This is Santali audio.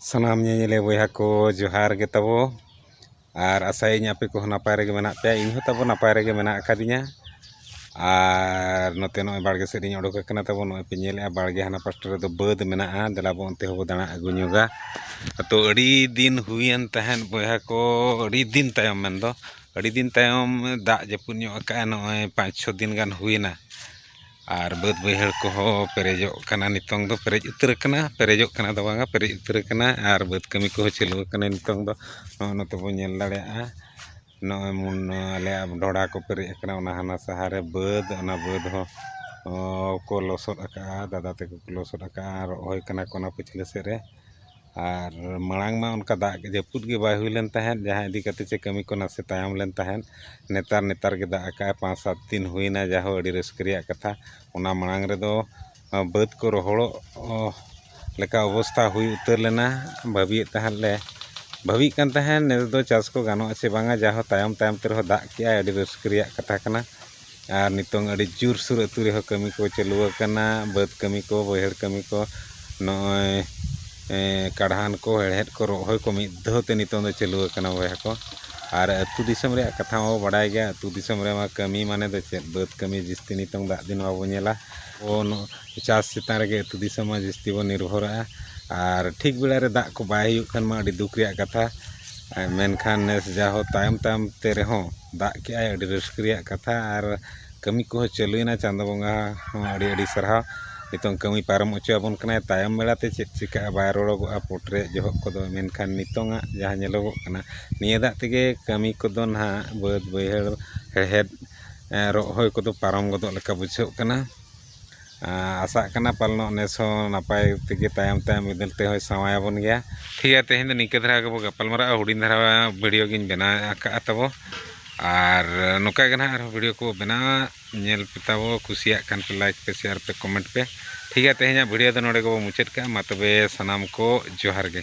ᱥᱟᱱᱟᱢ ᱧᱮᱧᱮᱞᱤᱭᱟᱹ ᱵᱚᱭᱦᱟ ᱠᱚ ᱡᱚᱦᱟᱨ ᱜᱮ ᱛᱟᱵᱚ ᱟᱨ ᱟᱥᱟᱭᱟᱹᱧ ᱟᱯᱮ ᱠᱚᱦᱚᱸ ᱱᱟᱯᱟᱭ ᱨᱮᱜᱮ ᱢᱮᱱᱟᱜ ᱯᱮᱭᱟ ᱤᱧ ᱦᱚᱸ ᱛᱟᱵᱚ ᱱᱟᱯᱟᱭ ᱨᱮᱜᱮ ᱢᱮᱱᱟᱜ ᱟᱠᱟᱫᱤᱧᱟ ᱟᱨ ᱱᱚᱛᱮ ᱱᱚᱜᱼᱚᱭ ᱵᱟᱲᱜᱮ ᱥᱮᱫ ᱨᱤᱧ ᱚᱰᱚᱠ ᱟᱠᱟᱱᱟ ᱛᱟᱵᱚ ᱱᱚᱜᱼᱚᱭ ᱯᱮ ᱧᱮᱞᱮᱜᱼᱟ ᱵᱟᱲᱜᱮ ᱦᱟᱱᱟ ᱯᱟᱥᱴᱟ ᱨᱮᱫᱚ ᱵᱟᱹᱫᱽ ᱢᱮᱱᱟᱜᱼᱟ ᱫᱮᱞᱟ ᱵᱚᱱ ᱚᱱᱛᱮ ᱦᱚᱸᱵᱚᱱ ᱫᱟᱬᱟ ᱟᱹᱜᱩ ᱧᱚᱜᱟ ᱟᱫᱚ ᱟᱹᱰᱤ ᱫᱤᱱ ᱦᱩᱭᱮᱱ ᱛᱟᱦᱮᱸᱫ ᱵᱚᱭᱦᱟ ᱠᱚ ᱟᱹᱰᱤ ᱫᱤᱱ ᱛᱟᱭᱚᱢ ᱢᱮᱱ ᱫᱚ ᱟᱹᱰᱤ ᱫᱤᱱ ᱛᱟᱭᱚᱢ ᱫᱟᱜ ᱡᱟᱹᱯᱩᱫ ᱧᱚᱜ ᱟᱠᱟᱫᱼᱟᱭ ᱱᱚᱜᱼᱚᱭ ᱯᱟᱸᱪ ᱪᱷᱚ ᱫᱤᱱ ᱜᱟᱱ ᱦᱩᱭᱮᱱᱟ ᱟᱨ ᱵᱟᱹᱫᱽ ᱵᱟᱹᱭᱦᱟᱹᱲ ᱠᱚᱦᱚᱸ ᱯᱮᱨᱮᱡᱚᱜ ᱠᱟᱱᱟ ᱱᱤᱛᱚᱝ ᱫᱚ ᱯᱮᱨᱮᱡ ᱩᱛᱟᱹᱨ ᱠᱟᱱᱟ ᱯᱮᱨᱮᱡᱚᱜ ᱠᱟᱱᱟ ᱫᱚ ᱵᱟᱝᱟ ᱯᱮᱨᱮᱡ ᱩᱛᱟᱹᱨ ᱠᱟᱱᱟ ᱟᱨ ᱵᱟᱹᱫᱽ ᱠᱟᱹᱢᱤ ᱠᱚᱦᱚᱸ ᱪᱟᱹᱞᱩ ᱠᱟᱱᱟ ᱱᱤᱛᱚᱝ ᱫᱚ ᱱᱚᱜᱼᱚᱸᱭ ᱱᱚᱛᱮ ᱵᱚᱱ ᱧᱮᱞ ᱫᱟᱲᱮᱭᱟᱜᱼᱟ ᱱᱚᱜᱼᱚᱸᱭ ᱢᱩᱱ ᱟᱞᱮᱭᱟᱜ ᱰᱷᱚᱲᱟ ᱠᱚ ᱯᱮᱨᱮᱡ ᱠᱟᱱᱟ ᱚᱱᱟ ᱦᱟᱱᱟ ᱥᱟᱦᱟᱨ ᱨᱮ ᱵᱟᱹᱫᱽ ᱚᱱᱟ ᱵᱟᱹᱫᱽ ᱦᱚᱸ ᱠᱚ ᱞᱚᱥᱚᱫ ᱠᱟᱜᱼᱟ ᱫᱟᱫᱟ ᱛᱟᱠᱚ ᱠᱚ ᱞᱚᱥᱚᱫ ᱠᱟᱜᱼᱟ ᱨᱚᱦᱚᱭ ᱠᱟᱱᱟ ᱠᱚ ᱚᱱᱟ ᱯᱟᱪᱷᱞᱟᱹ ᱥᱮᱫ ᱨᱮ ᱟᱨ ᱢᱟᱲᱟᱝ ᱢᱟ ᱚᱱᱠᱟ ᱫᱟᱜ ᱡᱟᱹᱯᱩᱫ ᱜᱮ ᱵᱟᱭ ᱦᱩᱭ ᱞᱮᱱ ᱛᱟᱦᱮᱸᱫ ᱡᱟᱦᱟᱸ ᱤᱫᱤ ᱠᱟᱛᱮᱫ ᱪᱮᱫ ᱠᱟᱹᱢᱤ ᱠᱚ ᱱᱟᱥᱮ ᱛᱟᱭᱚᱢ ᱞᱮᱱ ᱛᱟᱦᱮᱸᱫ ᱱᱮᱛᱟᱨ ᱱᱮᱛᱟᱨ ᱜᱮ ᱫᱟᱜ ᱟᱠᱟᱫ ᱟᱭ ᱯᱟᱸᱪ ᱥᱟᱛ ᱫᱤᱱ ᱦᱩᱭᱱᱟ ᱡᱟᱦᱳ ᱟᱹᱰᱤ ᱨᱟᱹᱥᱠᱟᱹ ᱨᱮᱭᱟᱜ ᱠᱟᱛᱷᱟ ᱚᱱᱟ ᱢᱟᱲᱟᱝ ᱨᱮᱫᱚ ᱵᱟᱹᱫᱽ ᱠᱚ ᱨᱚᱦᱚᱲᱚᱜ ᱞᱮᱠᱟ ᱚᱵᱚᱥᱛᱷᱟ ᱦᱩᱭ ᱩᱛᱟᱹᱨ ᱞᱮᱱᱟ ᱵᱷᱟᱹᱵᱤᱭᱮᱫ ᱛᱟᱦᱮᱸᱫ ᱞᱮ ᱵᱷᱟᱹᱵᱤᱭᱮᱫ ᱠᱟᱱ ᱛᱟᱦᱮᱸᱫ ᱱᱮᱥ ᱫᱚ ᱪᱟᱥ ᱠᱚ ᱜᱟᱱᱚᱜ ᱟᱥᱮ ᱵᱟᱝᱟ ᱡᱟᱦᱳ ᱛᱟᱭᱚᱢ ᱛᱟᱭᱚᱢ ᱛᱮ ᱨᱮᱦᱚᱸ ᱫᱟᱜ ᱠᱮᱜ ᱟᱭ ᱟᱹᱰᱤ ᱨᱟᱹᱥᱠᱟᱹ ᱨᱮᱭᱟᱜ ᱠᱟᱛᱷᱟ ᱠᱟᱱᱟ ᱟᱨ ᱱᱤᱛᱚᱝ ᱟᱹᱰᱤ ᱡᱳᱨ ᱥᱳᱨ ᱟᱛᱳ ᱨᱮᱦᱚᱸ ᱠᱟᱹᱢᱤ ᱠᱚ ᱪᱟᱹᱞᱩ ᱟᱠᱟᱱᱟ ᱵᱟᱹᱫᱽ ᱠᱟᱹᱢᱤ ᱠᱚ ᱵᱟᱹᱭᱦᱟᱹᱲ ᱠᱟᱹᱢᱤ ᱠᱚ ᱱᱚᱜᱼᱚᱭ ᱠᱟᱬᱦᱟᱱ ᱠᱚ ᱦᱮᱲᱦᱮᱫ ᱠᱚ ᱨᱚᱦᱚᱭ ᱠᱚ ᱢᱤᱫ ᱫᱷᱟᱣ ᱛᱮ ᱱᱤᱛᱚᱝ ᱫᱚ ᱪᱟᱹᱞᱩ ᱟᱠᱟᱱᱟ ᱵᱚᱭᱦᱟ ᱠᱚ ᱟᱨ ᱟᱛᱳ ᱫᱤᱥᱚᱢ ᱨᱮᱭᱟᱜ ᱠᱟᱛᱷᱟ ᱢᱟᱵᱚ ᱵᱟᱰᱟᱭ ᱜᱮᱭᱟ ᱟᱛᱳ ᱫᱤᱥᱚᱢ ᱨᱮᱢᱟ ᱠᱟᱹᱢᱤ ᱢᱟᱱᱮ ᱫᱚ ᱪᱮᱫ ᱵᱟᱹᱫᱽ ᱠᱟᱹᱢᱤ ᱡᱟᱹᱥᱛᱤ ᱱᱤᱛᱚᱝ ᱫᱟᱜ ᱫᱤᱱ ᱵᱟᱵᱚ ᱧᱮᱞᱟ ᱪᱟᱥ ᱪᱮᱛᱟᱱ ᱨᱮᱜᱮ ᱟᱛᱳ ᱫᱤᱥᱚᱢ ᱢᱟ ᱡᱟᱹᱥᱛᱤ ᱵᱚᱱ ᱱᱤᱨᱵᱷᱚᱨᱚᱜᱼᱟ ᱟᱨ ᱴᱷᱤᱠ ᱵᱮᱲᱟ ᱨᱮ ᱫᱟᱜ ᱠᱚ ᱵᱟᱭ ᱦᱩᱭᱩᱜ ᱠᱷᱟᱱ ᱢᱟ ᱟᱹᱰᱤ ᱫᱩᱠ ᱨᱮᱭᱟᱜ ᱠᱟᱛᱷᱟ ᱢᱮᱱᱠᱷᱟᱱ ᱱᱮᱥ ᱡᱟᱦᱳ ᱛᱟᱭᱚᱢ ᱛᱟᱭᱚᱢ ᱛᱮ ᱨᱮᱦᱚᱸ ᱫᱟᱜ ᱠᱮᱜ ᱟᱭ ᱟᱹᱰᱤ ᱨᱟᱹᱥᱠᱟᱹ ᱨᱮᱭᱟᱜ ᱠᱟᱛᱷᱟ ᱟᱨ ᱠᱟᱹᱢᱤ ᱠᱚᱦᱚᱸ ᱪᱟᱹᱞᱩᱭᱮᱱᱟ ᱪᱟᱸᱫᱚ ᱵᱚᱸᱜᱟ ᱦᱚᱸ ᱟᱹᱰᱤ ᱟᱹᱰᱤ ᱥᱟᱨᱦᱟᱣ ᱱᱤᱛᱚᱝ ᱠᱟᱹᱢᱤ ᱯᱟᱨᱚᱢ ᱦᱚᱪᱚᱭᱟᱵᱚᱱ ᱠᱟᱱᱟᱭ ᱛᱟᱭᱚᱢ ᱵᱮᱲᱟ ᱛᱮ ᱪᱮᱫ ᱪᱤᱠᱟᱹᱜᱼᱟ ᱵᱟᱭ ᱨᱚᱲᱚᱜᱚᱜᱼᱟ ᱯᱚᱴ ᱨᱮᱭᱟᱜ ᱡᱚᱦᱚᱜ ᱠᱚᱫᱚ ᱢᱮᱱᱠᱷᱟᱱ ᱱᱤᱛᱚᱝ ᱟᱜ ᱡᱟᱦᱟᱸ ᱧᱮᱞᱚᱜᱚᱜ ᱠᱟᱱᱟ ᱱᱤᱭᱟᱹ ᱫᱟᱜ ᱛᱮᱜᱮ ᱠᱟᱹᱢᱤ ᱠᱚᱫᱚ ᱱᱟᱦᱟᱜ ᱵᱟᱹᱫᱽ ᱵᱟᱹᱭᱦᱟᱹᱲ ᱦᱮᱲᱦᱮᱫ ᱨᱚᱦᱚᱭ ᱠᱚᱫᱚ ᱯᱟᱨᱚᱢ ᱜᱚᱫᱚᱜ ᱞᱮᱠᱟ ᱵᱩᱡᱷᱟᱹᱜ ᱠᱟᱱᱟ ᱟᱥᱟᱜ ᱠᱟᱱᱟ ᱯᱟᱞᱮᱱᱚᱜ ᱱᱮᱥ ᱦᱚᱸ ᱱᱟᱯᱟᱭ ᱛᱮᱜᱮ ᱛᱟᱭᱚᱢ ᱛᱟᱭᱚᱢ ᱢᱤᱫ ᱫᱤᱱ ᱛᱮᱦᱚᱸᱭ ᱥᱟᱶᱟᱭ ᱟᱵᱚᱱ ᱜᱮᱭᱟ ᱴᱷᱤᱠ ᱜᱮᱭᱟ ᱛᱮᱦᱮᱧ ᱫᱚ ᱱᱤᱝᱠᱟᱹ ᱫᱷᱟᱨᱟ ᱜᱮᱵᱚᱱ ᱜᱟᱯᱟᱞ ᱢᱟᱨᱟᱜᱼᱟ ᱦᱩᱰᱤᱧ ᱫᱷᱟᱨᱟ ᱵᱷᱤᱰᱭᱳ ᱜᱤᱧ ᱵᱮᱱᱟᱣ ᱟᱠᱟᱫᱼᱟ ᱛᱟᱵᱚ ᱟᱨ ᱱᱚᱝᱠᱟ ᱜᱮ ᱱᱟᱦᱟᱜ ᱟᱨᱦᱚᱸ ᱵᱷᱤᱰᱭᱳ ᱠᱚ ᱵᱮᱱᱟᱣᱟ ᱧᱮᱞ ᱯᱮ ᱛᱟᱵᱚ ᱠᱩᱥᱤᱭᱟᱜ ᱠᱷᱟᱱ ᱯᱮ ᱞᱟᱭᱤᱠ ᱯᱮ ᱥᱮᱭᱟᱨ ᱯᱮ ᱠᱚᱢᱮᱱᱴ ᱯᱮ ᱴᱷᱤᱠ ᱜᱮᱭᱟ ᱛᱮᱦᱮᱧᱟᱜ ᱵᱷᱤᱰᱭᱳ ᱫᱚ ᱱᱚᱰᱮ ᱜᱮᱵᱚᱱ ᱢᱩᱪᱟᱹᱫ ᱠᱟᱜᱼᱟ ᱢᱟ ᱛᱚᱵᱮ ᱥᱟᱱᱟᱢ ᱠᱚ ᱡᱚᱦᱟᱨ ᱜᱮ